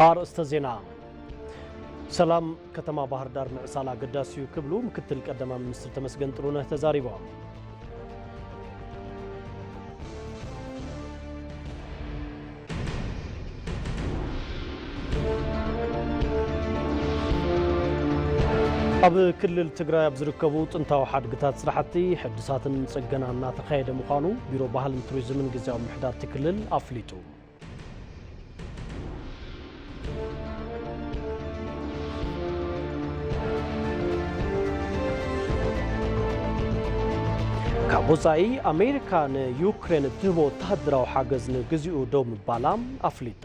ኣርእስተ ዜና ሰላም ከተማ ባህር ዳር ምዕሳል ኣገዳሲ እዩ ክብሉ ምክትል ቀዳማይ ሚኒስትር ተመስገን ጥሩነህ ተዛሪቦም። ኣብ ክልል ትግራይ ኣብ ዝርከቡ ጥንታዊ ሓድግታት ስራሕቲ ሕድሳትን ፅገና እናተኻየደ ምዃኑ ቢሮ ባህልን ቱሪዝምን ግዜያዊ ምሕዳርቲ ክልል ኣፍሊጡ። ካብ ወፃኢ ኣሜሪካ ንዩክሬን እትህቦ ወተሃደራዊ ሓገዝ ንግዚኡ ደው ምባላ ኣፍሊጣ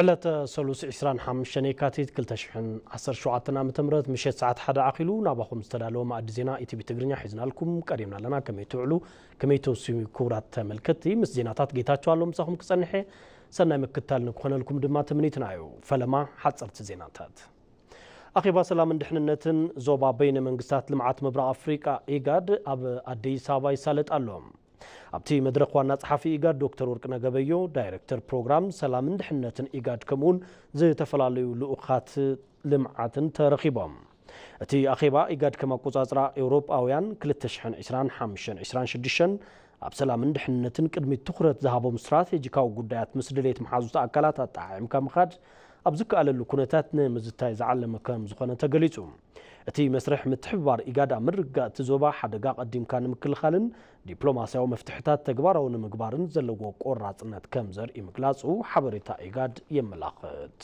ዕለተ ሰሉስ ዕስራን ሓሙሽተን የካቲት ክልተ ሽሕን ዓሰርተ ሸውዓተን ዓ ም ምሸት ሰዓት ሓደ ኣኺሉ ናባኹም ዝተዳለወ ማእዲ ዜና ኢቲቪ ትግርኛ ሒዝናልኩም ቀሪብና ኣለና ከመይ ትውዕሉ ከመይ ተውስዩ ክቡራት ተመልከትቲ ምስ ዜናታት ጌታቸው ኣሎ ምሳኹም ክጸንሐ ሰናይ ምክታል ንክኾነልኩም ድማ ትምኒትና እዩ ፈለማ ሓጸርቲ ዜናታት ኣኼባ ሰላምን ድሕንነትን ዞባ በይነ መንግስታት ልምዓት ምብራቕ ኣፍሪቃ ኢጋድ ኣብ ኣዲስ ኣበባ ይሳለጥ ኣሎ ኣብቲ መድረኽ ዋና ፀሓፊ ኢጋድ ዶክተር ወርቅነህ ገበዮ፣ ዳይሬክተር ፕሮግራም ሰላምን ድሕንነትን ኢጋድ ከምኡ እውን ዝተፈላለዩ ልኡኻት ልምዓትን ተረኺቦም። እቲ ኣኼባ ኢጋድ ከም ኣቆፃፅራ ኤውሮጳውያን ክልተ ሽሕን ዕስራን ሓምሽተን ዕስራን ሽዱሽተን ኣብ ሰላምን ድሕንነትን ቅድሚት ትኹረት ዝሃቦም ስትራቴጂካዊ ጉዳያት ምስ ድሌት መሓዙት ኣካላት ኣጠዓዒምካ ምኻድ ኣብ ዝከኣለሉ ኩነታት ንምዝታይ ዝዓለመ ከምዝኾነ ተገሊፁ። እቲ መስርሕ ምትሕብባር ኢጋድ ኣብ ምርግጋእ እቲ ዞባ ሓደጋ ቀዲምካ ንምክልኻልን ዲፕሎማስያዊ መፍትሕታት ተግባራዊ ንምግባርን ዘለዎ ቆራፅነት ከም ዘርኢ ምግላፁ ሓበሬታ ኢጋድ የመላኽት።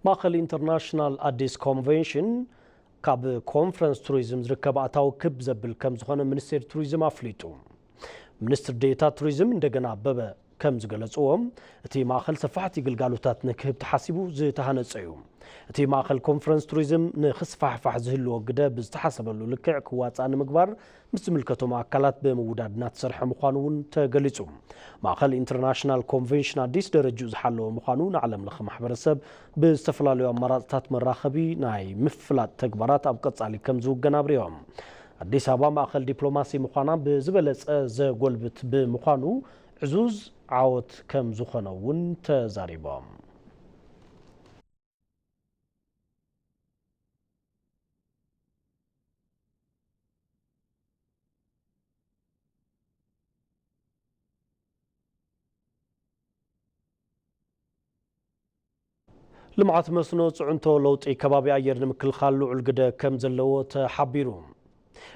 ማእኸል ኢንተርናሽናል ኣዲስ ኮንቬንሽን ካብ ኮንፈረንስ ቱሪዝም ዝርከብ ኣታዊ ክብ ዘብል ከም ዝኾነ ሚኒስቴር ቱሪዝም ኣፍሊጡ። ሚኒስትር ዴኤታ ቱሪዝም እንደገና ኣበበ ከም ዝገለፅዎ እቲ ማእኸል ሰፋሕቲ ግልጋሎታት ንክህብ ተሓሲቡ ዝተሃነፀ እዩ። እቲ ማእኸል ኮንፈረንስ ቱሪዝም ንክስፋሕፋሕ ዝህልዎ ግደ ብዝተሓሰበሉ ልክዕ ክዋፃእ ንምግባር ምስ ዝምልከቶም ኣካላት ብምውዳድ እናተሰርሐ ምዃኑ እውን ተገሊፁ። ማእኸል ኢንተርናሽናል ኮንቬንሽን ኣዲስ ደረጅኡ ዝሓለወ ምዃኑ ንዓለም ለኸ ማሕበረሰብ ብዝተፈላለዩ ኣማራፅታት መራኸቢ ናይ ምፍላጥ ተግባራት ኣብ ቀፃሊ ከምዝውገን ኣብሪሆም። ኣዲስ ኣበባ ማእኸል ዲፕሎማሲ ምዃና ብዝበለፀ ዘጎልብት ብምዃኑ ዕዙዝ ዓወት ከምዝኾነ እውን ተዛሪቦም። ልምዓት መስኖ ፅዕንቶ ለውጢ ከባቢ ኣየር ንምክልኻል ልዑል ግደ ከምዘለዎ ተሓቢሩ።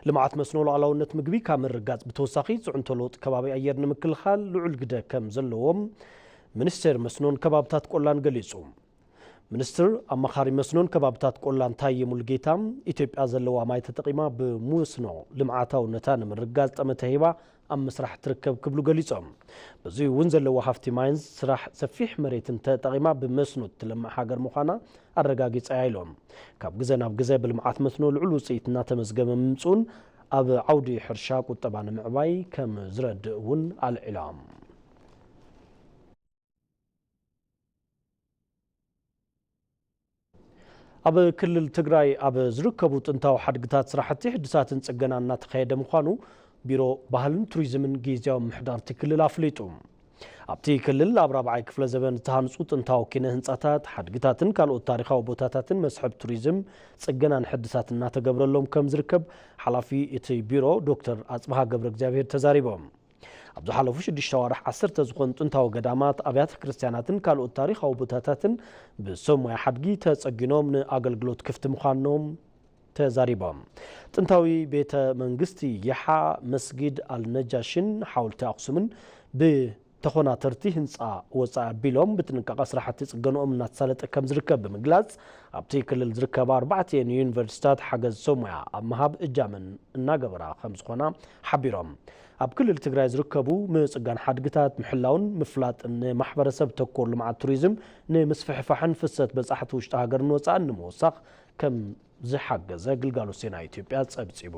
ልምዓት መስኖ ሉኣላውነት ምግቢ ካብ ምርግጋፅ ብተወሳኺ ፅዕንቶ ለውጢ ከባቢ ኣየር ንምክልኻል ልዑል ግደ ከም ዘለዎም ሚኒስቴር መስኖን ከባብታት ቆላን ገሊፁ። ሚኒስትር ኣማኻሪ መስኖን ከባብታት ቆላን ታዬ ሙሉጌታ ኢትዮጵያ ዘለዋ ማይ ተጠቒማ ብሙስኖ ልምዓታውነታ ንምርግጋፅ ጠመተ ሂባ ኣብ ምስራሕ ትርከብ ክብሉ ገሊፆም። በዙይ እውን ዘለዋ ሃፍቲ ማይን ስራሕ ሰፊሕ መሬትን ተጠቒማ ብመስኖ እትለምዕ ሃገር ምዃና ኣረጋጊፃ እያ ኢሎም። ካብ ግዘ ናብ ግዘ ብልምዓት መስኖ ልዑል ውፅኢት እናተመዝገበ ምምፅኡን ኣብ ዓውዲ ሕርሻ ቁጠባ ንምዕባይ ከምዝረድእ እውን ኣልዒሎም። ኣብ ክልል ትግራይ ኣብ ዝርከቡ ጥንታዊ ሓድግታት ስራሕቲ ሕድሳትን ፅገና እናተኻየደ ምዃኑ ቢሮ ባህልን ቱሪዝምን ጊዜያዊ ምሕዳርቲ ክልል ኣፍሊጡ። ኣብቲ ክልል ኣብ ራብዓይ ክፍለ ዘበን ዝተሃንፁ ጥንታዊ ኪነ ህንፃታት፣ ሓድግታትን ካልኦት ታሪኻዊ ቦታታትን መስሕብ ቱሪዝም ፅገናን ሕድሳት እናተገብረሎም ከም ዝርከብ ሓላፊ እቲ ቢሮ ዶክተር ኣፅብሃ ገብረ እግዚኣብሄር ተዛሪቦም። ኣብ ዝሓለፉ ሽዱሽተ ኣዋርሕ ዓሰርተ ዝኾኑ ጥንታዊ ገዳማት፣ ኣብያተ ክርስትያናትን ካልኦት ታሪኻዊ ቦታታትን ብሰብ ሞያ ሓድጊ ተጸጊኖም ንኣገልግሎት ክፍቲ ምዃኖም ተዛሪቦም። ጥንታዊ ቤተ መንግስቲ ይሓ፣ መስጊድ ኣልነጃሽን ሓውልቲ ኣኽሱምን ብተኾናተርቲ ህንጻ ወጻኢ ኣቢሎም ብጥንቃቐ ስራሕቲ ጽገንኦም እናተሳለጠ ከምዝርከብ ብምግላጽ፣ ኣብቲ ክልል ዝርከባ ኣርባዕቲኤን ዩኒቨርሲታት ሓገዝ ሰብ ሞያ ኣብ ምሃብ እጃመን እናገበራ ከምዝኾና ሓቢሮም። ኣብ ክልል ትግራይ ዝርከቡ ምፅጋን ሓድግታት ምሕላውን ምፍላጥን ንማሕበረሰብ ተኮር ልምዓት ቱሪዝም ንምስፍሕፋሕን ፍሰት በፃሕቲ ውሽጢ ሃገርን ወፃእን ንምውሳኽ ከምዝሓገዘ ግልጋሎት ዜና ኢትዮጵያ ፀብፂቡ።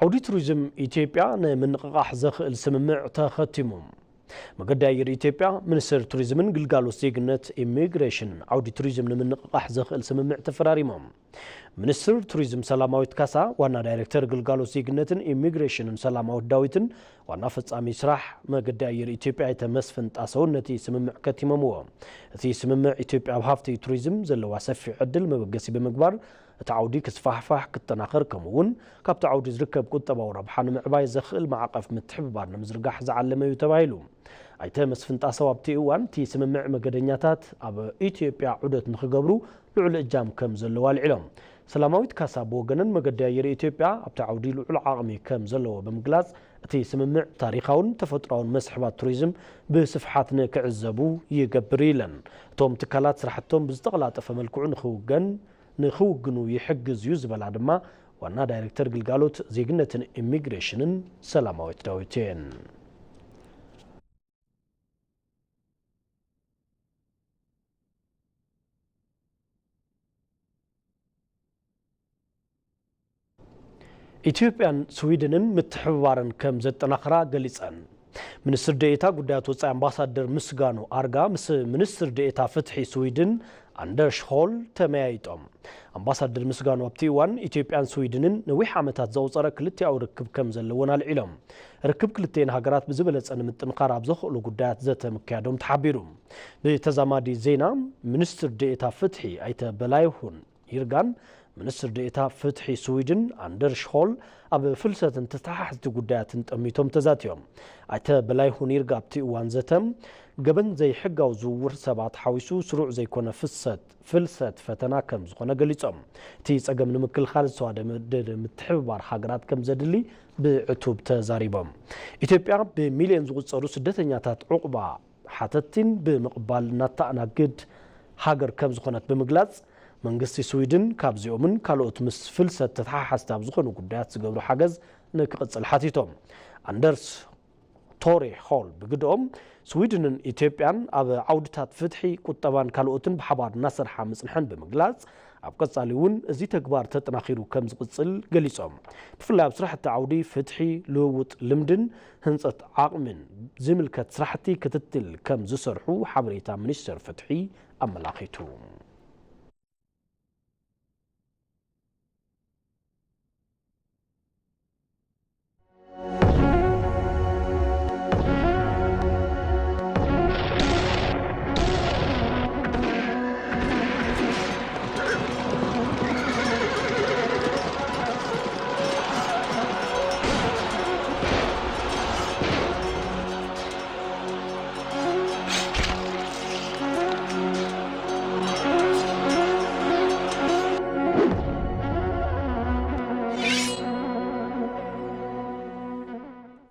ዓውዲ ቱሪዝም ኢትዮጵያ ንምንቕቓሕ ዘኽእል ስምምዕ ተኸቲሙ። መገዲ ኣየር ኢትዮጵያ፣ ሚኒስቴር ቱሪዝምን ግልጋሎት ዜግነት ኢሚግሬሽንን ዓውዲ ቱሪዝም ንምንቕቓሕ ዘኽእል ስምምዕ ተፈራሪሞም። ሚኒስትር ቱሪዝም ሰላማዊት ካሳ፣ ዋና ዳይሬክተር ግልጋሎት ዜግነትን ኢሚግሬሽንን ሰላማዊት ዳዊትን ዋና ፈጻሚ ስራሕ መገዲ ኣየር ኢትዮጵያ ኣይተ መስፍን ጣሰውን ነቲ ስምምዕ ከቲሞምዎ። እቲ ስምምዕ ኢትዮጵያ ኣብ ሃፍቲ ቱሪዝም ዘለዋ ሰፊሕ ዕድል መበገሲ ብምግባር እቲ ዓውዲ ክስፋሕፋሕ፣ ክጠናኸር ከምኡ እውን ካብቲ ዓውዲ ዝርከብ ቁጠባዊ ረብሓ ንምዕባይ ዘኽእል ማዕቐፍ ምትሕብባር ንምዝርጋሕ ዝዓለመ እዩ ተባሂሉ። ኣይተ መስፍን ጣሰው ኣብቲ እዋን እቲ ስምምዕ መገደኛታት ኣብ ኢትዮጵያ ዑደት ንክገብሩ ልዑል እጃም ከምዘለዎ ኣልዒሎም። ሰላማዊት ካሳ ብወገነን መገዲ ኣየር ኢትዮጵያ ኣብቲ ዓውዲ ልዑል ዓቕሚ ከምዘለዎ ብምግላፅ እቲ ስምምዕ ታሪኻውን ተፈጥሮኣውን መስሕባት ቱሪዝም ብስፍሓት ንክዕዘቡ ይገብር እዩ ኢለን። እቶም ትካላት ስራሕቶም ብዝተቐላጠፈ መልክዑ ንክውገን ንክውግኑ ይሕግዝ እዩ ዝበላ ድማ ዋና ዳይሬክተር ግልጋሎት ዜግነትን ኢሚግሬሽንን ሰላማዊት ዳዊት እየን። ኢትዮጵያን ስዊድንን ምትሕብባረን ከም ዘጠናኽራ ገሊፀን። ሚኒስትር ዴኤታ ጉዳያት ወፃኢ ኣምባሳደር ምስጋኑ ኣርጋ ምስ ሚኒስትር ዴኤታ ፍትሒ ስዊድን ኣንደርሽ ሆል ተመያይጦም። ኣምባሳደር ምስጋኑ ኣብቲ እዋን ኢትዮጵያን ስዊድንን ነዊሕ ዓመታት ዘቑፀረ ክልቲኣዊ ርክብ ከም ዘለወን ኣልዒሎም። ርክብ ክልቲኤን ሃገራት ብዝበለፀ ንምጥንኻር ኣብ ዘኽእሉ ጉዳያት ዘተ ምክያዶም ተሓቢሩ። ብተዛማዲ ዜና ሚኒስትር ዴኤታ ፍትሒ ኣይተ በላይሁን ይርጋን ሚኒስትር ዴኤታ ፍትሒ ስዊድን ኣንደርሽ ሆል ኣብ ፍልሰትን ተተሓሕዝቲ ጉዳያትን ጠሚቶም ተዛቲዮም። ኣይተ በላይሁን ይርጋ ኣብቲ እዋን ዘተ፣ ገበን ዘይሕጋዊ ዝውውር ሰባት ሓዊሱ ስሩዕ ዘይኮነ ፍሰት፣ ፍልሰት፣ ፈተና ከም ዝኾነ ገሊፆም። እቲ ፀገም ንምክልኻል ዝተዋደደ ምትሕብባር ሃገራት ከም ዘድሊ ብዕቱብ ተዛሪቦም። ኢትዮጵያ ብሚሊየን ዝቑፀሩ ስደተኛታት ዑቕባ ሓተቲን ብምቕባል እተኣናግድ ሃገር ከም ዝኾነት ብምግላጽ፣ መንግስቲ ስዊድን ካብዚኦምን ካልኦት ምስ ፍልሰት ተተሓሓዝቲ ኣብ ዝኾኑ ጉዳያት ዝገብሮ ሓገዝ ንክቕጽል ሓቲቶም። ኣንደርስ ቶሬ ሆል ብግደኦም፣ ስዊድንን ኢትዮጵያን ኣብ ዓውድታት ፍትሒ፣ ቁጠባን ካልኦትን ብሓባር እናሰርሓ ምጽንሐን ብምግላጽ፣ ኣብ ቀጻሊ እውን እዚ ተግባር ተጠናኺሩ ከም ዝቕጽል ገሊጾም። ብፍላይ ኣብ ስራሕቲ ዓውዲ ፍትሒ፣ ልውውጥ ልምድን ህንፀት ዓቕሚን ዝምልከት ስራሕቲ ክትትል ከም ዝሰርሑ ሓበሬታ ሚኒስቴር ፍትሒ ኣመላኺቱ።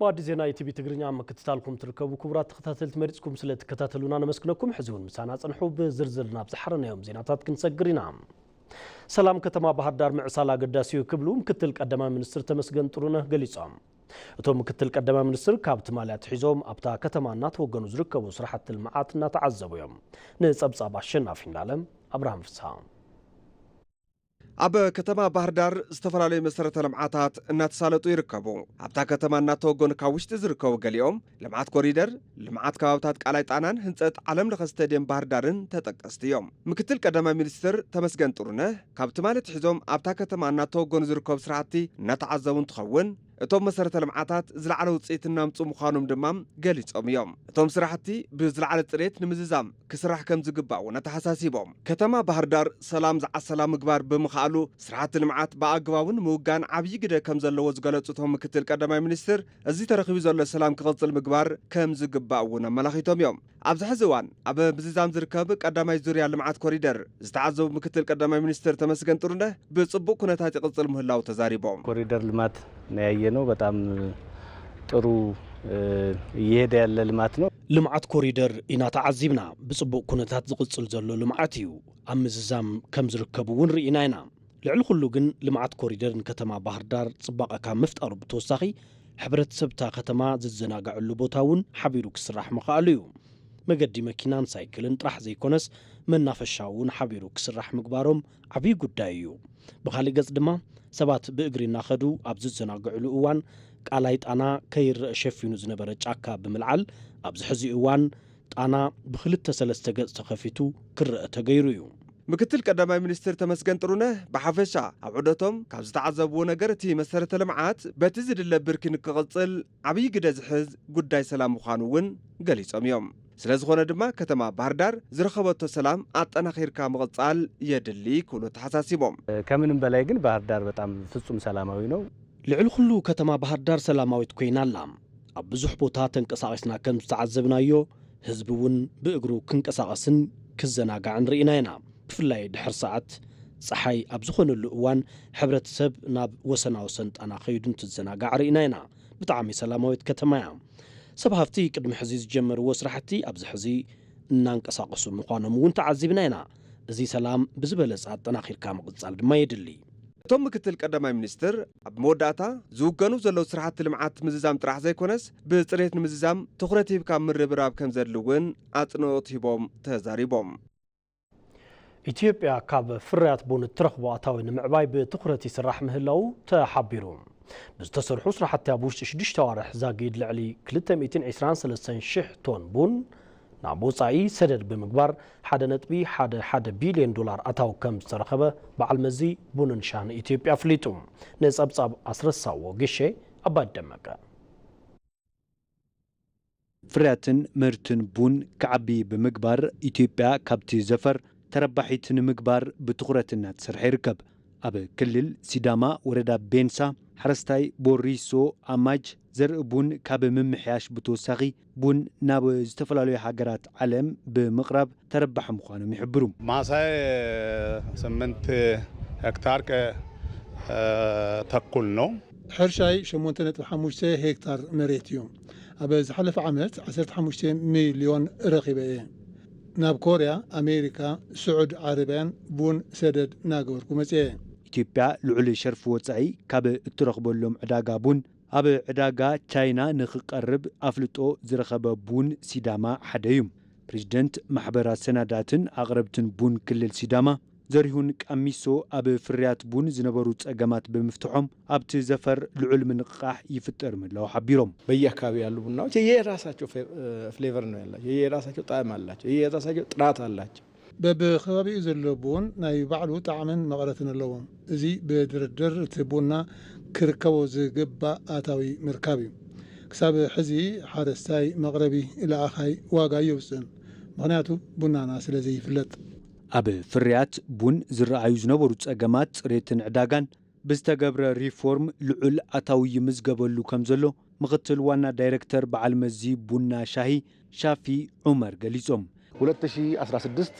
ብኣዲ ዜና ኢቲቪ ትግርኛ ምክትታልኩም ትርከቡ ክቡራት ተኸታተልቲ መሪፅኩም ስለ ትከታተሉና ነመስግነኩም ሕዚ እውን ምሳና ፅንሑ ብዝርዝር ናብ ዝሓረናዮም ዜናታት ክንሰግር ኢና ሰላም ከተማ ባህርዳር ምዕሳል ኣገዳሲ'ዩ ክብሉ ምክትል ቀዳማይ ሚኒስትር ተመስገን ጥሩነህ ገሊፆም። እቶም ምክትል ቀዳማይ ሚኒስትር ካብ ትማሊ ኣትሒዞም ኣብታ ከተማ እናተወገኑ ዝርከቡ ስራሕቲ ልምዓት እናተዓዘቡ እዮም። ንፀብፃብ ኣሸናፊ እንዳለ ኣብርሃም ፍስሃ። ኣብ ከተማ ባህርዳር ዝተፈላለዩ መሰረተ ልምዓታት እናተሳለጡ ይርከቡ። ኣብታ ከተማ እናተወገኑ ካብ ውሽጢ ዝርከቡ ገሊኦም ልምዓት ኮሪደር፣ ልምዓት ከባብታት ቃላይ ጣናን ህንፀት ዓለም ለኸ ስቴድየም ባህር ዳርን ተጠቀስቲ እዮም። ምክትል ቀዳማይ ሚኒስትር ተመስገን ጥሩነህ ካብ ትማሊ ኣትሒዞም ኣብታ ከተማ እናተወገኑ ዝርከቡ ስራሕቲ እናተዓዘቡ እንትኸውን፣ እቶም መሰረተ ልምዓታት ዝለዓለ ውፅኢት እናምፅኡ ምዃኖም ድማ ገሊፆም እዮም። እቶም ስራሕቲ ብዝለዓለ ፅሬት ንምዝዛም ክስራሕ ከምዝግባእ እውን ኣተሓሳሲቦም። ከተማ ባህር ዳር ሰላም ዝዓሰላ ምግባር ብምኽኣሉ ስራሕቲ ልምዓት ብኣግባቡ ንምውጋን ዓብዪ ግደ ከምዘለዎ ዝገለፁ እቶም ምክትል ቀዳማይ ሚኒስትር፣ እዚ ተረኺቡ ዘሎ ሰላም ክቕፅል ምግባር ከምዝግባእ እውን ኣመላኺቶም እዮም። ኣብዚ ሕዚ እዋን ኣብ ምዝዛም ዝርከብ ቀዳማይ ዙርያ ልምዓት ኮሪደር ዝተዓዘቡ ምክትል ቀዳማይ ሚኒስትር ተመስገን ጥሩነህ ብፅቡቕ ኩነታት ይቕፅል ምህላው ተዛሪቦም። ኮሪደር ልማት ነው ያየነው በጣም ጥሩ እየሄደ ያለ ልማት ነው። ልምዓት ኮሪደር ኢና ተዓዚብና ብፅቡቕ ኩነታት ዝቕፅል ዘሎ ልምዓት እዩ። ኣብ ምዝዛም ከምዝርከብ እውን ርኢና ኢና። ልዕሊ ኩሉ ግን ልምዓት ኮሪደር ንከተማ ባህርዳር ፅባቐ ካብ ምፍጣሩ ብተወሳኺ ሕብረተሰብ እታ ከተማ ዝዘናገዐሉ ቦታ እውን ሓቢሩ ክስራሕ ምኽኣሉ እዩ። መገዲ መኪናን ሳይክልን ጥራሕ ዘይኮነስ መናፈሻ እውን ሓቢሩ ክስራሕ ምግባሮም ዓብዪ ጉዳይ እዩ። ብኻሊእ ገፅ ድማ ሰባት ብእግሪ እናኸዱ ኣብ ዝዘናግዕሉ እዋን ቃላይ ጣና ከይረእ ሸፊኑ ዝነበረ ጫካ ብምልዓል ኣብዚ ሕዚ እዋን ጣና ብክልተ ሰለስተ ገፅ ተኸፊቱ ክረኣ ተገይሩ እዩ። ምክትል ቀዳማይ ሚኒስትር ተመስገን ጥሩነህ ብሓፈሻ ኣብ ዑደቶም ካብ ዝተዓዘብዎ ነገር እቲ መሰረተ ልምዓት በቲ ዝድለ ብርኪ ንክቕፅል ዓብዪ ግደ ዝሕዝ ጉዳይ ሰላም ምዃኑ እውን ገሊፆም እዮም። ስለዝኾነ ድማ ከተማ ባህርዳር ዝረኸበቶ ሰላም ኣጠናኺርካ ምቕፃል የድሊ ክብሉ ኣተሓሳሲቦም። ከምንም በላይ ግን ባህርዳር በጣም ፍፁም ሰላማዊ ነው። ልዕሊ ኹሉ ከተማ ባህርዳር ሰላማዊት ኮይና ኣላ። ኣብ ብዙሕ ቦታ ተንቀሳቒስና ከም ዝተዓዘብናዮ፣ ህዝቢ እውን ብእግሩ ክንቀሳቐስን ክዘናጋዕን ርኢና ኢና። ብፍላይ ድሕሪ ሰዓት ጸሓይ ኣብ ዝኾነሉ እዋን ሕብረተሰብ ናብ ወሰናወሰን ጣና ከይዱ እንትዘናጋዕ ርኢና ኢና። ብጣዕሚ ሰላማዊት ከተማ እያ። ሰብ ሃፍቲ ቅድሚ ሕዚ ዝጀመርዎ ስራሕቲ ኣብዚ ሕዚ እናንቀሳቐሱ ምዃኖም እውን ተዓዚብና ኢና። እዚ ሰላም ብዝበለፀ ኣጠናኺርካ ምቕፃል ድማ የድሊ። እቶም ምክትል ቀዳማይ ሚኒስትር፣ ኣብ መወዳእታ፣ ዝውገኑ ዘለዉ ስራሕቲ ልምዓት ምዝዛም ጥራሕ ዘይኮነስ ብፅሬት ንምዝዛም ትኹረት ሂብካ ምርብራብ ከምዘድሊ እውን ኣፅንኦት ሂቦም ተዛሪቦም። ኢትዮጵያ ካብ ፍርያት ቡን እትረኽቦ ኣታዊ ንምዕባይ ብትኹረት ይስራሕ ምህላዉ ተሓቢሩ። ብዝተሰርሑ ስራሕቲ ኣብ ውሽጢ ሽዱሽተ ኣዋርሕ ዛጊድ ልዕሊ ክልተ ሚእትን ዒስራን ሰለስተን ሺሕ ቶን ቡን ናብ ወፃኢ ሰደድ ብምግባር ሓደ ነጥቢ ሓደ ሓደ ቢሊየን ዶላር ኣታዊ ከምዝተረኸበ በዓል መዚ ቡንን ሻህን ኢትዮጵያ ኣፍሊጡ። ንፀብፃብ ኣስረሳው ወግሼ፣ ኣባዲ ደመቀ። ፍርያትን ምህርትን ቡን ክዓቢ ብምግባር ኢትዮጵያ ካብቲ ዘፈር ተረባሒት ንምግባር ብትኹረት እናተሰርሐ ይርከብ። ኣብ ክልል ሲዳማ ወረዳ ቤንሳ ሓረስታይ ቦሪሶ ኣማጅ ዘርኢ ቡን ካብ ምምሕያሽ ብተወሳኺ፣ ቡን ናብ ዝተፈላለዩ ሃገራት ዓለም ብምቕራብ ተረባሒ ምዃኖም ይሕብሩ። ማሳይ ስምንት ሄክታር ከተኩል ነው። ሕርሻይ ሸሞንተ ነጥቢ ሓሙሽተ ሄክታር መሬት እዩ። ኣብ ዝሓለፈ ዓመት ዓሰርተ ሓሙሽተ ሚልዮን ረኺበ እየ። ናብ ኮርያ፣ ኣሜሪካ፣ ስዑድ ዓረብያን ቡን ሰደድ እናገበርኩ መፂኤ። ኢትዮጵያ ልዑል ሸርፊ ወፃኢ ካብ እትረኽበሎም ዕዳጋ ቡን ኣብ ዕዳጋ ቻይና ንኽቀርብ ኣፍልጦ ዝረኸበ ቡን ሲዳማ ሓደ'ዩ። ፕረዚደንት ማሕበር ኣሰናዳእትን ኣቕረብትን ቡን ክልል ሲዳማ ዘሪሁን ቃሚሶ፣ ኣብ ፍርያት ቡን ዝነበሩ ፀገማት ብምፍትሖም ኣብቲ ዘፈር ልዑል ምንቕቓሕ ይፍጠር ምህላዉ ሓቢሮም። በየኣካባቢው ያሉ ቡናዎች የየራሳቸው ፍሌቨር ነው ያላቸው የየራሳቸው ጣዕም አላቸው የየራሳቸው ጥራት አላቸው። በብከባቢኡ ዘሎ ቡን ናይ ባዕሉ ጣዕምን መቐረትን ኣለዎ። እዚ ብድርድር እቲ ቡና ክርከቦ ዝግባእ ኣታዊ ምርካብ እዩ። ክሳብ ሕዚ ሓረስታይ፣ መቕረቢ፣ ለኣኻይ ዋጋ ኣየውፅእን። ምኽንያቱ ቡናና ስለዘይፍለጥ። ኣብ ፍርያት ቡን ዝረኣዩ ዝነበሩ ፀገማት ፅሬትን ዕዳጋን፣ ብዝተገብረ ሪፎርም ልዑል ኣታዊ ይምዝገበሉ ከምዘሎ ምኽትል ዋና ዳይረክተር በዓል መዚ ቡና ሻሂ ሻፊ ዑመር ገሊፆም። ሁለት ሺ ኣስራ ስድስት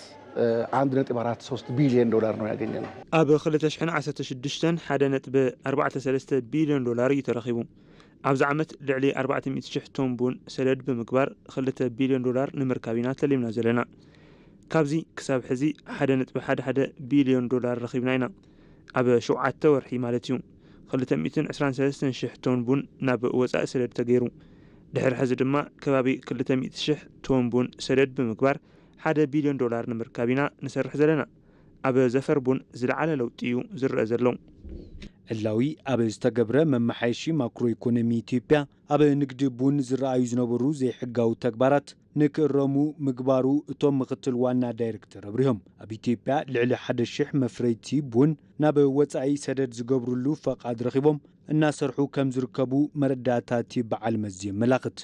አንድ ነጥብ ኣራት ሶስት ቢልየን ዶላር ነው ያገኘነው። ኣብ ክልተ ሽሕን ዓሰርተ ሽዱሽተን ሓደ ነጥቢ ኣርባዕተ ሰለስተ ቢልዮን ዶላር እዩ ተረኺቡ። ኣብዚ ዓመት ልዕሊ ኣርባዕተ ሚእቲ ሽሕ ቶን ቡን ሰደድ ብምግባር ክልተ ቢልዮን ዶላር ንምርካብ ኢና ተሊምና ዘለና። ካብዚ ክሳብ ሕዚ ሓደ ነጥቢ ሓደ ሓደ ቢልዮን ዶላር ረኺብና ኢና። ኣብ ሸውዓተ ወርሒ ማለት እዩ ክልተ ሚእትን ዕስራን ሰለስተን ሽሕ ቶን ቡን ናብ ወፃኢ ሰደድ ተገይሩ። ድሕሪ ሕዚ ድማ ከባቢ ክልተ ሚእቲ ሽሕ ቶን ቡን ሰደድ ብምግባር ሓደ ቢልዮን ዶላር ንምርካብ ኢና ንሰርሕ ዘለና። ኣብ ዘፈር ቡን ዝለዓለ ለውጢ እዩ ዝረኣ ዘሎ። ዕላዊ ኣብ ዝተገብረ መመሓየሺ ማክሮ ኢኮኖሚ ኢትዮጵያ ኣብ ንግዲ ቡን ዝረኣዩ ዝነበሩ ዘይሕጋዊ ተግባራት ንክእረሙ ምግባሩ እቶም ምክትል ዋና ዳይሬክተር ኣብሪሆም። ኣብ ኢትዮጵያ ልዕሊ ሓደ ሽሕ መፍረይቲ ቡን ናብ ወፃኢ ሰደድ ዝገብርሉ ፈቓድ ረኺቦም እናሰርሑ ከምዝርከቡ መረዳእታ እቲ በዓል መዚ የመላኽት።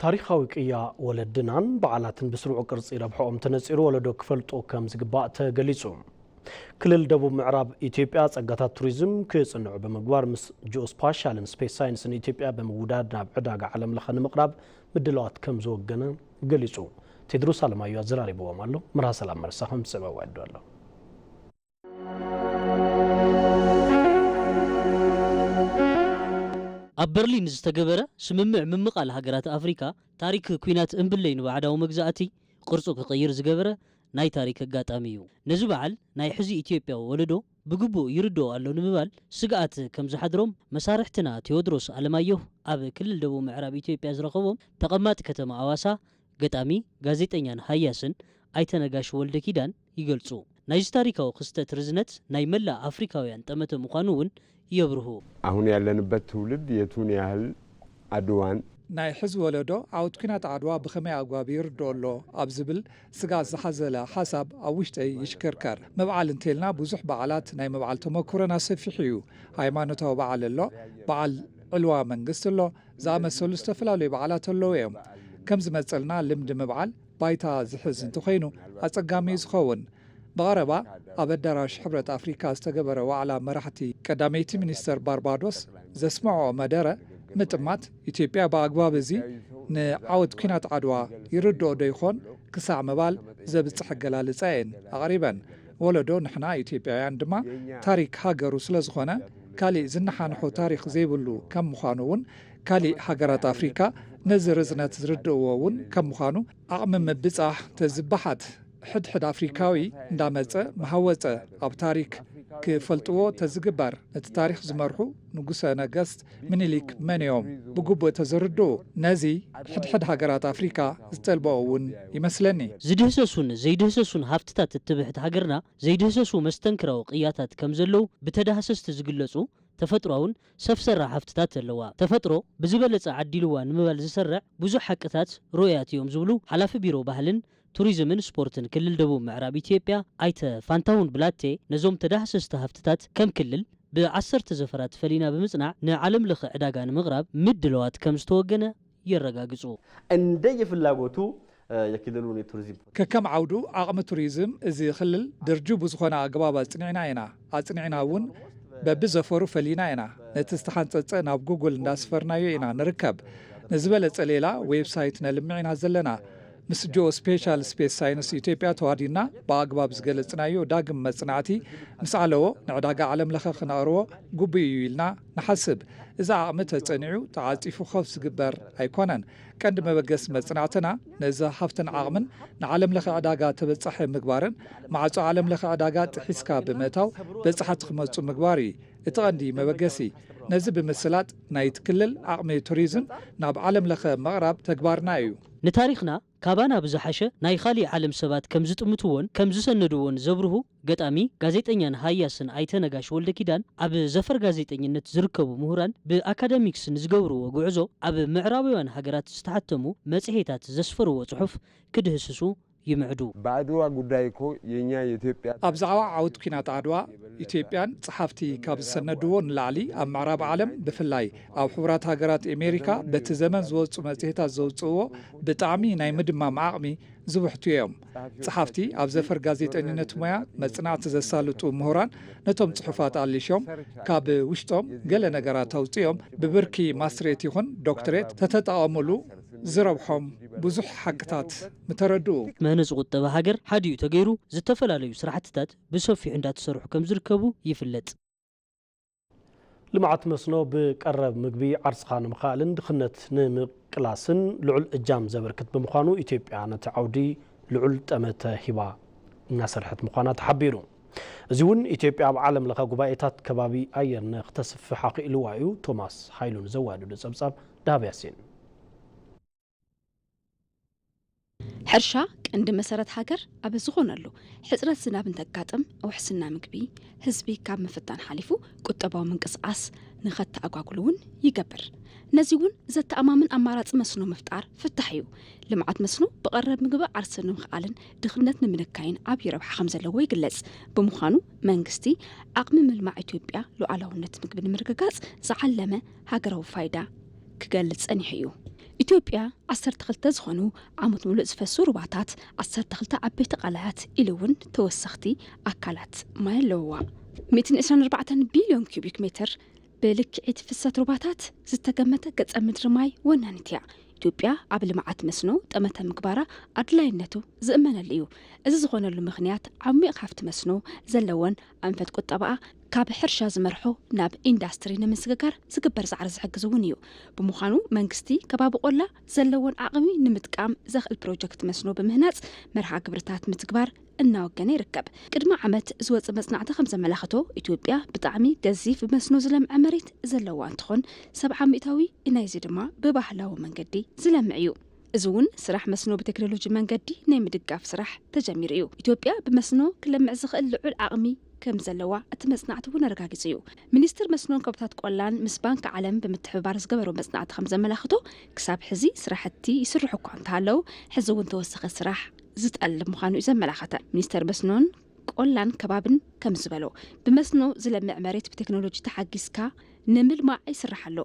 ታሪኻዊ ቅያ ወለድናን በዓላትን ብስሩዕ ቅርፂ ረብሕኦም ተነፂሩ ወለዶ ክፈልጦ ከምዝግባእ ተገሊፁ። ክልል ደቡብ ምዕራብ ኢትዮጵያ ፀጋታት ቱሪዝም ክፅንዑ ብምግባር ምስ ጂኦስፓሻልን ስፔስ ሳይንስን ኢትዮጵያ ብምውዳድ ናብ ዕዳጋ ዓለም ለኸ ንምቕራብ ምድላዋት ከምዝወገነ ገሊፁ። ቴድሮስ ኣለማዮ ኣዘራሪብዎም ኣሎ። መርሃ ሰላም መርሳ ከምዝስዕብ ኣዋዲዱ ኣሎ። ኣብ በርሊን ዝተገበረ ስምምዕ ምምቓል ሃገራት ኣፍሪካ ታሪክ ኲናት እምብለይ ንባዕዳዊ መግዛእቲ ቅርፁ ክቕይር ዝገበረ ናይ ታሪክ ኣጋጣሚ እዩ። ነዚ በዓል ናይ ሕዚ ኢትዮጵያዊ ወለዶ ብግቡእ ይርድኦ ኣሎ ንምባል ስግኣት ከም ዝሓድሮም መሳርሕትና ቴዎድሮስ ኣለማየሁ ኣብ ክልል ደቡብ ምዕራብ ኢትዮጵያ ዝረኸቦም ተቐማጢ ከተማ ኣዋሳ ገጣሚ፣ ጋዜጠኛን ሃያስን ኣይተ ነጋሽ ወልደኪዳን ይገልፁ። ናይዚ ታሪካዊ ክስተት ርዝነት ናይ መላእ ኣፍሪካውያን ጠመተ ምዃኑ እውን የብርሁ። ኣሁን ያለንበት ትውልድ የቱን ያህል ኣድዋን። ናይ ሕዚ ወለዶ ዓወት ኲናት ዓድዋ ብኸመይ ኣግባብ ይርድኦ ኣሎ ኣብ ዝብል ስግኣት ዝሓዘለ ሓሳብ ኣብ ውሽጠይ ይሽክርከር። ምብዓል እንተይልና ብዙሕ በዓላት ናይ ምብዓል ተመኩሮና ሰፊሕ እዩ። ሃይማኖታዊ በዓል ኣሎ፣ በዓል ዕልዋ መንግስቲ ኣሎ፣ ዝኣመሰሉ ዝተፈላለዩ በዓላት ኣለዉ እዮም። ከም ዝመጸልና ልምዲ ምብዓል፣ ባይታ ዝሕዝ እንተኾይኑ ኣጸጋሚ እዩ ዝኸውን። ብቐረባ ኣብ ኣዳራሽ ሕብረት ኣፍሪካ ዝተገበረ ዋዕላ መራሕቲ ቀዳመይቲ ሚኒስተር ባርባዶስ ዘስመዐኦ መደረ ምጥማት ኢትዮጵያ ብኣግባብ እዚ ንዓወት ኲናት ዓድዋ ይርድኦ ዶ ይኾን ክሳዕ ምባል ዘብጽሕ ኣገላልጻ እየን ኣቕሪበን። ወለዶ ንሕና ኢትዮጵያውያን ድማ ታሪክ ሃገሩ ስለዝኾነ ካሊእ ዝነሓንሖ ታሪኽ ዘይብሉ ከም ምዃኑ እውን ካሊእ ሃገራት ኣፍሪካ ነዚ ርዝነት ዝርድእዎ እውን ከም ምዃኑ ዓቕሚ ምብፃሕ ተዝበሓት ሕድ ሕድ ኣፍሪካዊ እንዳመፀ ምሃወፀ ኣብ ታሪክ ክፈልጥዎ ተዝግበር ነቲ ታሪክ ዝመርሑ ንጉሰ ነገስት ሚኒሊክ መን እዮም ብግቡእ ተዝርድኡ ነዚ ሕድ ሕድ ሃገራት ኣፍሪካ ዝጠልበኦ እውን ይመስለኒ። ዝድህሰሱን ዘይድህሰሱን ሃፍትታት እትብሕት ሃገርና ዘይድህሰሱ መስተንክራዊ ቅያታት ከም ዘለዉ ብተዳህሰስቲ ዝግለፁ ተፈጥሮኣውን ሰብ ሰራሕ ሃፍትታት ዘለዋ ተፈጥሮ ብዝበለፀ ዓዲልዋ ንምባል ዝስርዕ ብዙሕ ሓቅታት ርኡያት እዮም ዝብሉ ሓላፊ ቢሮ ባህልን ቱሪዝምን ስፖርትን ክልል ደቡብ ምዕራብ ኢትዮጵያ ኣይተ ፋንታሁን ብላቴ ነዞም ተዳህሰስቲ ሃፍትታት ከም ክልል ብዓሰርተ ዘፈራት ፈሊና ብምፅናዕ ንዓለም ለኸ ዕዳጋ ንምቕራብ ምድለዋት ከምዝተወገነ የረጋግጹ። እንደየ ፍላጎቱ የክልሉን የቱሪዝም ፖሊሲ። ከከም ዓውዱ ዓቕሚ ቱሪዝም እዚ ክልል ድርጁ ብዝኾነ ኣገባብ ኣጽኒዕና ኢና። ኣጽኒዕና እውን በቢ ዘፈሩ ፈሊና ኢና። ነቲ ዝተሓንጸጸ ናብ ጉግል እንዳስፈርናዮ ኢና ንርከብ። ንዝበለጸ ሌላ ዌብ ሳይት ነልምዕ ኢና ዘለና። ምስ ጂኦስፔሻል ስፔስ ሳይንስ ኢትዮጵያ ተዋዲድና ብኣግባብ ዝገለጽናዮ ዳግም መጽናዕቲ ምስ ዓለዎ ንዕዳጋ ዓለም ለኸ ክነቕርቦ ግቡእ እዩ ኢልና ንሓስብ እዚ ዓቕሚ ተጸኒዑ ተዓጺፉ ኮፍ ዝግበር ኣይኮነን። ቀንዲ መበገሲ መጽናዕትና ነዚ ሃፍትን ዓቕምን ንዓለም ለኸ ዕዳጋ ተበጻሒ ምግባርን ማዕጾ ዓለም ለኸ ዕዳጋ ጥሒስካ ብምእታው በጻሕቲ ክመጹ ምግባር እዩ እቲ ቀንዲ መበገሲ። ነዚ ብምስላጥ ናይቲ ክልል ዓቕሚ ቱሪዝም ናብ ዓለም ለኸ ምቕራብ ተግባርና እዩ። ንታሪኽና ካባና ብዝሓሸ ናይ ኻሊእ ዓለም ሰባት ከም ዝጥምትዎን ከም ዝሰነድዎን ዘብርሁ ገጣሚ፣ ጋዜጠኛን ሃያስን ኣይተ ነጋሽ ወልደኪዳን ኣብ ዘፈር ጋዜጠኝነት ዝርከቡ ምሁራን ብኣካዳሚክስ ንዝገብርዎ ጉዕዞ ኣብ ምዕራባውያን ሃገራት ዝተሓተሙ መጽሔታት ዘስፈርዎ ጽሑፍ ክድህስሱ ይምዕዱ። በአድዋ ጉዳይ እኮ የኛ የኢትዮጵያ ኣብ ታሪክ ዛዕባ ዓወት ኲናት ዓድዋ ኢትዮጵያን ጸሓፍቲ ካብ ዝሰነድዎ ንላዕሊ ኣብ ምዕራብ ዓለም ብፍላይ ኣብ ሕቡራት ሃገራት ኤሜሪካ በቲ ዘመን ዝወጹ መጽሔታት ዘውጽእዎ ብጣዕሚ ናይ ምድማም ዓቕሚ ዝብሕቱ እዮም። ጸሓፍቲ ኣብ ዘፈር ጋዜጠኝነት ሞያ መጽናዕቲ ዘሳልጡ ምሁራን ነቶም ጽሑፋት ኣሊሾም ካብ ውሽጦም ገለ ነገራት ኣውጺኦም ብብርኪ ማስትሬት ይኹን ዶክትሬት ተተጠቐሙሉ ዝረብሖም ብዙሕ ሓቅታት ምተረድኡ። መነ ዝቑጠበ ሃገር ሓዲኡ ተገይሩ ዝተፈላለዩ ስራሕትታት ብሰፊሑ እንዳተሰርሑ ከምዝርከቡ ይፍለጥ። ልምዓት መስኖ ብቀረብ ምግቢ ዓርስኻ ንምኽኣልን ድኽነት ንምቅላስን ልዑል እጃም ዘበርክት ብምዃኑ ኢትዮጵያ ነቲ ዓውዲ ልዑል ጠመተ ሂባ እናሰርሐት ምዃና ተሓቢሩ። እዚ እውን ኢትዮጵያ ኣብ ዓለም ለኸ ጉባኤታት ከባቢ ኣየር ንክተስፍሕ ኣኽኢልዋ እዩ ቶማስ ሃይሉ ንዘዋደዶ ፀብፃብ ደሃብ ያሲን። ሕርሻ ቀንዲ መሰረት ሃገር ኣብ ዝኾነሉ ሕፅረት ዝናብ እንተጋጥም ውሕስና ምግቢ ህዝቢ ካብ ምፍታን ሓሊፉ ቁጠባዊ ምንቅስቓስ ንኸተኣጓጉሉ እውን ይገብር ነዚ እውን ዘተኣማምን ኣማራፂ መስኖ ምፍጣር ፍታሕ እዩ ልምዓት መስኖ ብቐረብ ምግቢ ዓርሰ ንምኽኣልን ድኽነት ንምንካይን ዓብዪ ረብሓ ከም ዘለዎ ይግለጽ ብምዃኑ መንግስቲ ዓቕሚ ምልማዕ ኢትዮጵያ ሉዓላውነት ምግቢ ንምርግጋጽ ዝዓለመ ሃገራዊ ፋይዳ ክገልጽ ጸኒሑ እዩ። ኢትዮጵያ ዓሰርተ ክልተ ዝኾኑ ዓመት ሙሉእ ዝፈሱ ሩባታት፣ ዓሰርተ ክልተ ዓበይቲ ቃላያት ኢሉ እውን ተወሰኽቲ ኣካላት ማይ ኣለውዋ። ሚእትን ዕስራን ኣርባዕተን ቢልዮን ኪዩቢክ ሜትር ብልክዒት ፍሰት ሩባታት ዝተገመተ ገጸ ምድሪ ማይ ወናኒት እያ። ኢትዮጵያ ኣብ ልምዓት መስኖ ጠመተ ምግባራ ኣድላይነቱ ዝእመነሉ እዩ። እዚ ዝኾነሉ ምኽንያት ዓሚቕ ሃፍቲ መስኖ ዘለወን ኣንፈት ቁጠባኣ፣ ካብ ሕርሻ ዝመርሖ ናብ ኢንዳስትሪ ንምስግጋር ዝግበር ፃዕሪ ዝሕግዝ እውን እዩ። ብምዃኑ መንግስቲ ከባቢ ቆላ ዘለዎን ዓቕሚ ንምጥቃም ዘኽእል ፕሮጀክት መስኖ ብምህናፅ መርሃ ግብርታት ምትግባር እናወገነ ይርከብ። ቅድሚ ዓመት ዝወፀ መፅናዕቲ ከምዘመላኸቶ ኢትዮጵያ ብጣዕሚ ገዚፍ ብመስኖ ዝለምዐ መሬት ዘለዋ እንትኾን ሰብዓ ሚእታዊ ናይዚ ድማ ብባህላዊ መንገዲ ዝለምዕ እዩ። እዚ እውን ስራሕ መስኖ ብቴክኖሎጂ መንገዲ ናይ ምድጋፍ ስራሕ ተጀሚሩ እዩ። ኢትዮጵያ ብመስኖ ክለምዕ ዝኽእል ልዑል ዓቕሚ ከምዘለዋ እቲ መፅናዕቲ እውን ኣረጋጊፁ እዩ። ሚኒስቴር መስኖን ከባብታት ቆላን ምስ ባንኪ ዓለም ብምትሕብባር ዝገበሮ መፅናዕቲ ከምዘመላኽቶ ክሳብ ሕዚ ስራሕቲ ይስርሑ እኳ እንተሃለው ሕዚ እውን ተወሳኺ ስራሕ ዝጠልብ ምዃኑ እዩ ዘመላኸተ። ሚኒስቴር መስኖን ቆላን ከባብን ከምዝበሎ ብመስኖ ዝለምዕ መሬት ብቴክኖሎጂ ተሓጊዝካ ንምልማዕ ይስራሕ ኣሎ።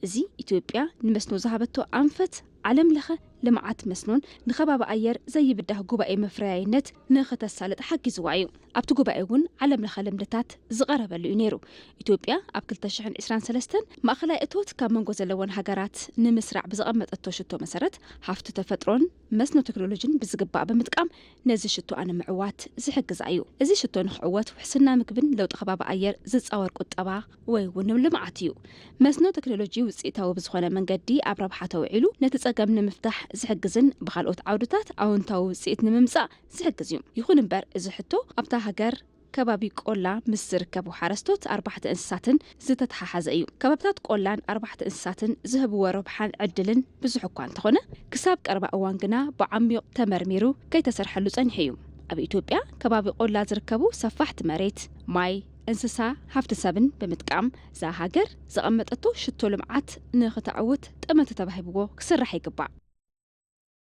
እዚ ኢትዮጵያ ንመስኖ ዝሃበቶ ኣንፈት ዓለም ለኸ ልምዓት መስኖን ንከባቢ ኣየር ዘይብዳህ ጉባኤ መፍረያይነት ንክተሳልጥ ሓጊዝዋ እዩ። ኣብቲ ጉባኤ እውን ዓለም ለኸ ልምድታት ዝቐረበሉ እዩ ነይሩ። ኢትዮጵያ ኣብ ክልተ ሽሕን ዕስራን ሰለስተን ማእኸላይ እቶት ካብ መንጎ ዘለወን ሃገራት ንምስራዕ ብዘቐመጠቶ ሽቶ መሰረት ሃፍቲ ተፈጥሮን መስኖ ተክኖሎጂን ብዝግባእ ብምጥቃም ነዚ ሽቶኣ ንምዕዋት ዝሕግዛ እዩ። እዚ ሽቶ ንክዕወት ውሕስና ምግብን ለውጢ ከባቢ ኣየር ዝፃወር ቁጠባ ወይ እውን ልምዓት እዩ። መስኖ ተክኖሎጂ ውፅኢታዊ ብዝኾነ መንገዲ ኣብ ረብሓ ተውዒሉ ነቲ ፀገም ንምፍታሕ ዝሕግዝን ብኻልኦት ዓውድታት ኣወንታዊ ውፅኢት ንምምፃእ ዝሕግዝ እዩ። ይኹን እምበር እዚ ሕቶ ኣብታ ሃገር ከባቢ ቆላ ምስ ዝርከቡ ሓረስቶት ኣርባሕቲ እንስሳትን ዝተተሓሓዘ እዩ። ከባብታት ቆላን ኣርባሕቲ እንስሳትን ዝህብዎ ረብሓን ዕድልን ብዙሕ እኳ እንተኾነ ክሳብ ቀረባ እዋን ግና ብዓሚዩቕ ተመርሚሩ ከይተሰርሐሉ ፀኒሑ እዩ። ኣብ ኢትዮጵያ ከባቢ ቆላ ዝርከቡ ሰፋሕቲ መሬት፣ ማይ፣ እንስሳ፣ ሃፍቲ ሰብን ብምጥቃም እዛ ሃገር ዘቐመጠቶ ሽቶ ልምዓት ንክተዕውት ጠመተ ተባሂብዎ ክስራሕ ይግባእ።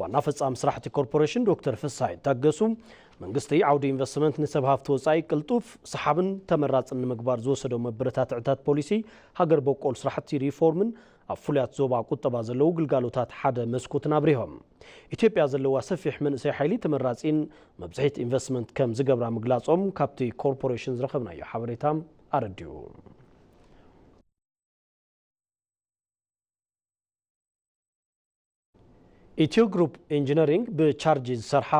ዋና ፈፃሚ ስራሕ እቲ ኮርፖሬሽን ዶክተር ፍስሃይ ታገሱ፣ መንግስቲ ዓውዲ ኢንቨስትመንት ንሰብ ሃፍቲ ወፃኢ ቅልጡፍ፣ ሰሓብን ተመራፅን ንምግባር ዝወሰዶ መበረታትዕታት ፖሊሲ፣ ሃገር በቆል ስራሕቲ ሪፎርምን ኣብ ፍሉያት ዞባ ቁጠባ ዘለዉ ግልጋሎታት ሓደ መስኮትን ኣብሪሆም። ኢትዮጵያ ዘለዋ ሰፊሕ መንእሰይ ሓይሊ ተመራፂን መብፅሒት ኢንቨስትመንት ከም ዝገብራ ምግላፆም ካብቲ ኮርፖሬሽን ዝረኸብናዮ ሓበሬታ ኣረዲኡ። ኢትዮ ግሩፕ ኢንጂነሪንግ ብቻርጅ ዝሰርሓ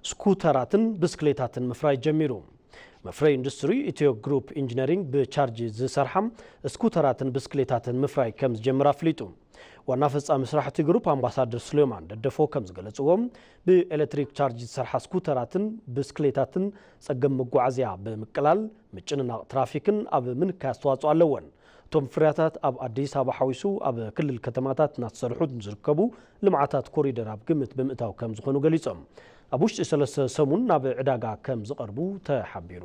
ስኩተራትን ብስክሌታትን ምፍራይ ጀሚሩ። መፍረይ ኢንዱስትሪ ኢትዮ ግሩፕ ኢንጂነሪንግ ብቻርጅ ዝሰርሓ ስኩተራትን ብስክሌታትን ምፍራይ ከም ዝጀምር ኣፍሊጡ። ዋና ፈፃሚ ስራሕ እቲ ግሩፕ ኣምባሳደር ስሌማን ደደፎ ከም ዝገለፅዎ ብኤሌክትሪክ ቻርጅ ዝሰርሓ ስኩተራትን ብስክሌታትን ፀገም መጓዓዝያ ብምቅላል ምጭንናቕ ትራፊክን ኣብ ምንካይ ኣስተዋፅኦ ኣለወን። እቶም ፍርያታት ኣብ ኣዲስ ኣበባ ሓዊሱ ኣብ ክልል ከተማታት እናተሰርሑ ንዝርከቡ ልምዓታት ኮሪደር ኣብ ግምት ብምእታው ከምዝኾኑ ገሊፆም። ኣብ ውሽጢ ሰለስተ ሰሙን ናብ ዕዳጋ ከምዝቐርቡ ተሓቢሩ።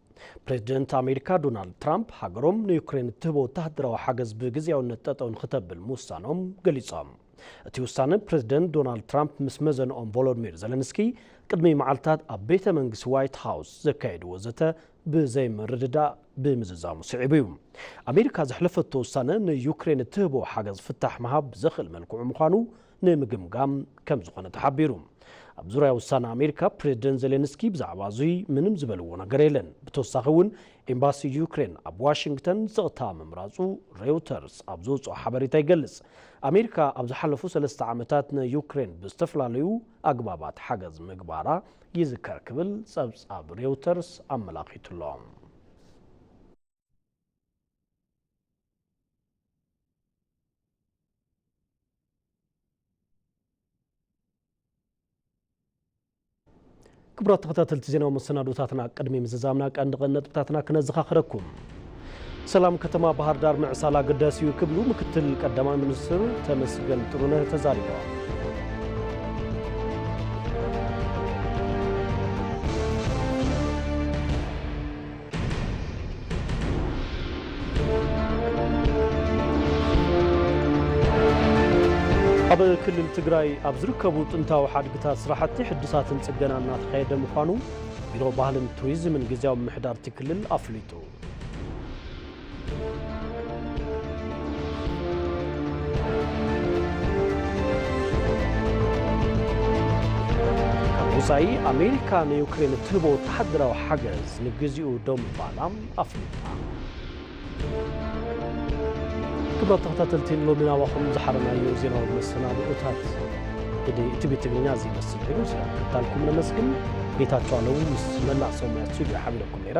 ፕሬዚደንት ኣሜሪካ ዶናልድ ትራምፕ ሃገሮም ንዩክሬን እትህቦ ወተሃደራዊ ሓገዝ ብግዜያውነት ጠጠው ንክተብል ምውሳኖም ገሊጾም። እቲ ውሳነ ፕሬዚደንት ዶናልድ ትራምፕ ምስ መዘንኦም ቮሎድሚር ዘለንስኪ ቅድሚ መዓልታት ኣብ ቤተ መንግስቲ ዋይት ሃውስ ዘካየድዎ ዘተ ብዘይምርድዳእ ብምዝዛሙ ስዒቡ እዩ። ኣሜሪካ ዘሕለፈቶ ውሳነ ንዩክሬን እትህቦ ሓገዝ ፍታሕ ምሃብ ብዘኽእል መልክዑ ምዃኑ ንምግምጋም ከም ዝኾነ ተሓቢሩ። ኣብ ዙርያ ውሳነ ኣሜሪካ ፕሬዝደንት ዜሌንስኪ ብዛዕባ እዙይ ምንም ዝበልዎ ነገር የለን። ብተወሳኺ እውን ኤምባሲ ዩክሬን ኣብ ዋሽንግተን ዝቕታ ምምራፁ ሬውተርስ ኣብ ዘውፅኦ ሓበሬታ ይገልፅ። ኣሜሪካ ኣብ ዝሓለፉ ሰለስተ ዓመታት ንዩክሬን ብዝተፈላለዩ ኣግባባት ሓገዝ ምግባራ ይዝከር ክብል ፀብፃብ ሬውተርስ ኣመላኺቱ'ሎ። ክቡራት ተኸታተልቲ ዜናዊ መሰናዶታትና ቅድሚ ምዝዛምና ቀንዲ ቀንዲ ነጥብታትና ክነዘኻኽረኩም። ሰላም ከተማ ባህር ዳር ምዕሳል ኣገዳሲ እዩ ክብሉ ምክትል ቀዳማይ ሚኒስትር ተመስገን ጥሩነህ ተዛሪበዋል። ኣብ ክልል ትግራይ ኣብ ዝርከቡ ጥንታዊ ሓድግታት ስራሕቲ ሕድሳትን ፅገና እናተካየደ ምዃኑ ቢሮ ባህልን ቱሪዝምን ግዜያዊ ምምሕዳር እቲ ክልል ኣፍሊጡ። ካብ ወፃኢ ኣሜሪካ ንዩክሬን እትህቦ ወተሃደራዊ ሓገዝ ንግዚኡ ደው ምባላ ኣፍሊጣ። ክብራት ተኸታተልቲ ንሎሚ ናባኹም ዝሓረናዮ ዜናዊ መሰናድኦታት ቲቪ ትግርኛ እዚ ይመስል ነይሩ። ስለምክታልኩም ነመስግን። ጌታቸው ኣለዉ ምስ መላእ ሰሙያ ስቱዲዮ ሓቢረኩም ነይረ።